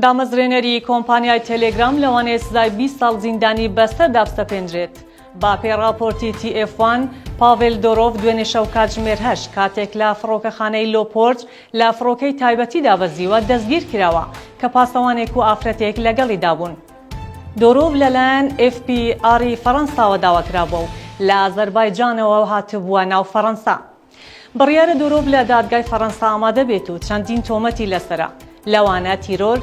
دامەزرێنەری کۆمپانیای تێلێگرام لەوانەیە سزای بیست ساڵ زیندانی بەسەر دابسەپێندرێت. بە پێی ڕاپۆرتی تی ئێف وان، پاڤێل دۆرۆڤ دوێنێ شەو کاتژمێر هەشت کاتێک لە فڕۆکەخانەی لۆپۆرت لە فڕۆکەی تایبەتی دابەزیوە دەستگیر کراوە کە پاسەوانێک و ئافرەتێک لەگەڵیدا بوون. دۆرۆڤ لەلایەن ئێف بی ئاڕی فەڕەنساوە داوا کرابووە و لە ئازەربایجانەوە هاتبووە ناو فەڕەنسا. بڕیارە دورۆڤ لە دادگای فەڕەنسا ئامادە بێت و چەندین تۆمەتی لەسەرە، لەوانە تیرۆر،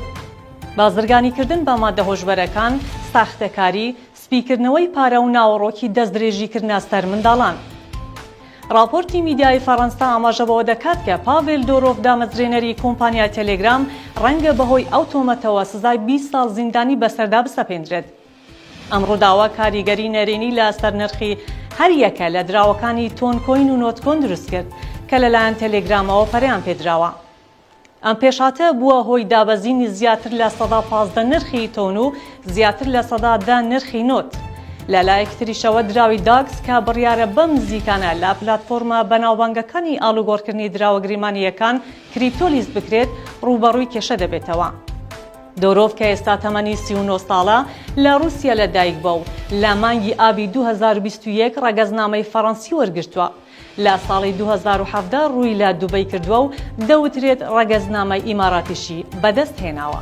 بازرگانیکردن بە ماددە هۆشبەرەکان، ساختەکاری، سپیکردنەوەی پارە و ناوەڕۆکی دەستدرێژیکردنە سەر منداڵان. ڕاپۆرتی میدیای فەڕەنسا ئاماژە بەوە دەکات کە پاڤێل دورۆڤ دامەزرێنەری کۆمپانیای تێلێگرام ڕەنگە بەهۆی ئەو تۆمەتەوە سزای بیست ساڵ زیندانی بەسەردا بسەپێندرێت. ئەم ڕووداوە کاریگەری نەرێنی لەسەر نرخی هەر یەکە لە دراوەکانی تۆن کۆین و نۆت کۆن دروست کرد کە لەلایەن تێلێگرامەوە پەرەیان پێدراوە. ئەم پێشهاتە بووە هۆی دابەزینی زیاتر لە سەدا پازدە نرخی تۆن و زیاتر لە سەدا دە نرخی نۆت. لە لایەکی تریشەوە دراوی داکس کە بڕیارە بەم نزیکانە لە پلاتفۆرمە بەناوبانگەکانی ئاڵوگۆڕکردنی دراوە گریمانەییەکان کریپتۆ لیست بکرێت، ڕووبەڕووی کێشە دەبێتەوە. دۆرۆڤ کە ئێستا تەمەنی سی و نۆ ساڵە، لە ڕووسیا لەدایکبووە و لە مانگی ئابی دوو هەزار و بیست و یەک ڕەگەزنامەی فەڕەنسی وەرگرتووە. لە ساڵی دوو هەزار و حەڤدە ڕووی لە دوبەی کردووە و دەوترێت ڕەگەزنامەی ئیماراتیشی بەدەستهێناوە.